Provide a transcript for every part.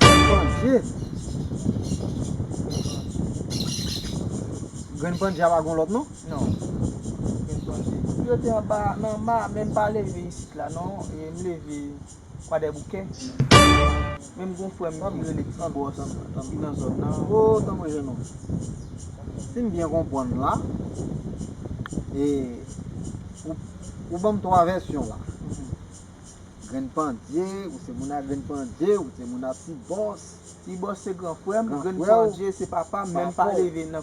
Grenn pandje Grenn pandje a pa gon lòt non? Non Grenn pandje Si yo te anba nan anba a men m pa leve isit la non e m leve kwadèboukè men m gon frè m ki rele ti bòs ki nan zòn nan O tanpri jèn òm Si m byen konprann la e ou ban m 3 vèsyon la Grenn pandye, ou se moun a grenn pandye, ou se moun a ti bòs. Ti bòs se gran frè m, grenn pandye se papa m, men m pa leve nan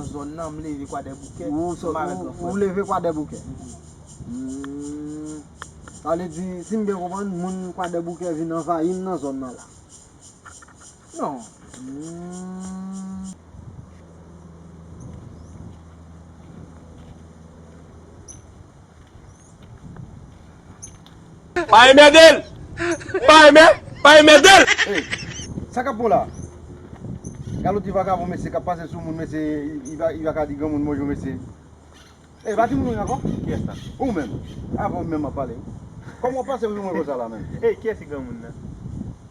zòn nan, m leve kwadèboukè, m avèk gran frè m. Ou leve kwadèboukè? Sa vle di, si m byen konprann, moun kwadèboukè vin anvayi m nan zòn nan la? Non. Pa enmède l! Pa enmè, pa enmède l! Hey! Sa kap bon la? Galo ti vakabon mesye kap pase sou moun mesye li pa ka di granmoun bonjou mesye Hey pa timoun ou ye ankò? Kiyès la? Ou menm! Avè w menm map pale wi Kòman w pase sou mwen konsa la menm? Hey kiyès ki granmoun nan?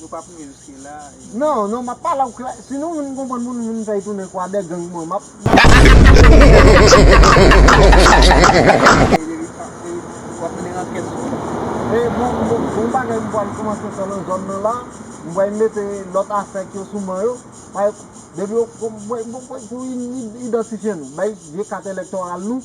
Nou pa priye jiske la e. Non non map pale ou klè si nou vin konprann pou nou vin fèy tounen kwadè gang mwen map e bon bon bagay m pwal koumanse fè nan zòn nan la m pwal mete lòt asèk yo sou man yo depi yo pou idantifye nou bay vye kat elèktoral nou.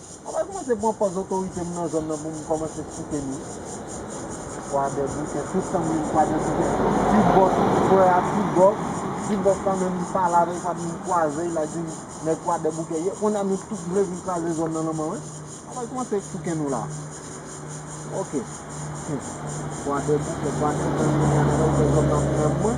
Mwen pral kòmanse pran pòz otorite m nan zòn nan pou m kòmanse tchouke nou. Kwadèboukè tout tan m jwenn kwadèboukè ti bòs m kwè a ti bòs ti bòs la menm m pale avè l sa vin kwaze l la di m nèg kwadèboukè ye konnya nou tout vle vin kraze zòn nan nan man mwen mwen pral kòmanse tchouke nou la ok hum kwadèboukè kwadèboukè zòn nan menm mwen.